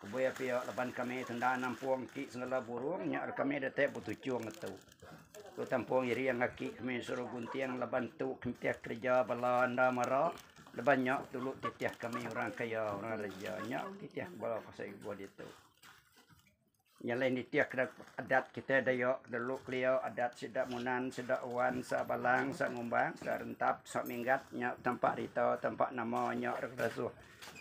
Ku Buaya pia, laban kami ti enda nampung enti sengela burung nya ari kami datai betuchung ngetu. Tu tampung iring aki kami suruh gunting laban tu kentih kereja bala enda mara laban nya dulu titih kami orang kaya orang reja nya titih bala pasal ibuh ditu. Nya lain nitih ke adat kita Dayak dulu kelia adat sida Munan sida Wan sida Balang sida Ngumbang sida Rentap sida Minggat nya tampa rita tampa nama nya regeresuh.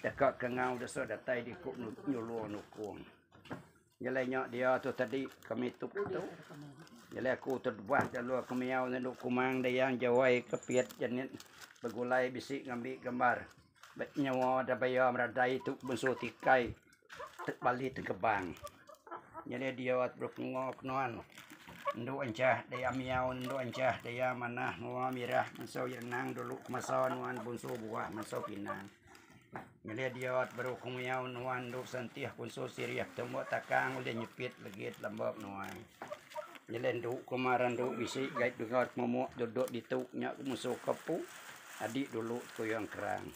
Deka ke ngau desa datai diku nyulur nukung. Nyelai nya dia tu tadi kami tu tu. Nyelai aku tu debah jalur ke miau nyendu kumang dayang jawai ke piat jenit begulai bisi ngambi gambar. Bet nyawa da baya meradai tu bensu tikai. bali tegebang nyadi diau barup menua ke nuan endu enchah daya miau endu enchah daya manah menua mirah mesau iya nang dulu masa nuan bunsu buah mesau pinang nyadi diau baru ku miau nuan endu sentih bunsu sirih tembu takang ulih nyepit ligit lamba menua nyadi endu ku mara endu bisi gai dega momok dudok ditu nya musu ke pu adi dulu tuyang kerang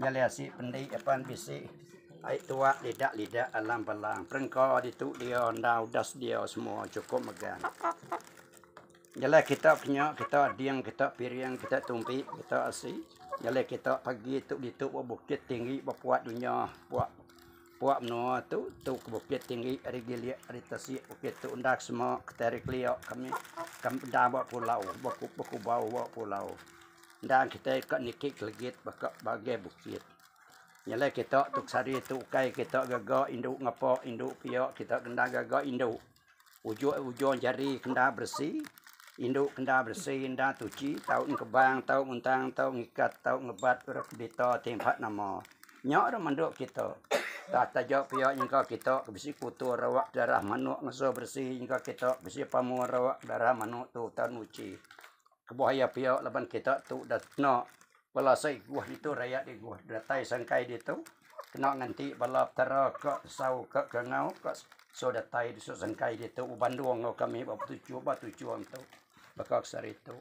Nyali asi pendi apan bisi ai tuak lida lida alam bala perengka ditu dia enda udah sedia semua cukup mega. Nyala kita kenya kita ading kita piring kita tumpi kita asi. Nyala kita pagi tu ditu ba bukit tinggi ba puak dunya puak puak menua tu tu ke bukit tinggi ari gilik ari tasik bukit tu enda semua kita ari kelia kami kami enda ba pulau ba kubau ba pulau. Enda kitai ka niki kelegit baka bagai bukit. Nyelai kita tok sehari tu ukai kita gaga indu ngapa indu pia kita kena gaga indu. Ujung ujung jari kena beresi, indu kena beresi enda tuchi tau ngkebang tau nguntang tau ngikat tau ngebat ira ke berita ti ba nama. Nya ira mandu kita. Tah taja pia nyengka kita ke bisi kuto rawak darah manok ngeso beresi nyengka kita bisi pamo rawak darah manok tu tau nuchi. Kebuah iya pia laban kita tu udah kena bala siguh ditu rayat diguh datai sangkai ditu kena nganti bala petara ka tesau ka kangau ka so datai disu sangkai ditu uban dua enggau kami ba betuchur ba tuchur ntu baka sehari tu.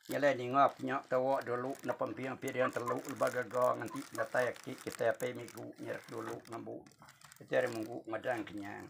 Nyelai ninga ku nya tawa dulu napa mpia mpia dian telu leba gaga nganti datai agi kitai apai migu nyerep dulu ngembu iti hari minggu ngadang kenyang.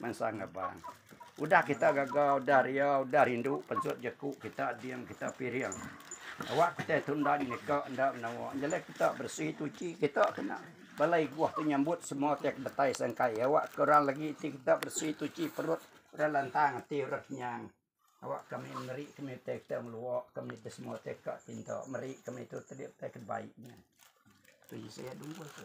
Mansa ngebang. Udah kita gaga, udah ria, udah rindu pensut jeku kita diam kita piring. Awak kita tundan nyeka enda menawa. Nyelai kita bersih tuci kita kena. Balai guah tu nyambut semua tek betai sangkai. Awak ke orang lagi ti kita bersih tuci perut. Orang lantang ati orang kenyang. Awak kami meri kami utai kita ngelua. Kami ke semua utai ka tinta. Meri kami tu tadi utai kebaiknya. Tu isi ya dunggu tu.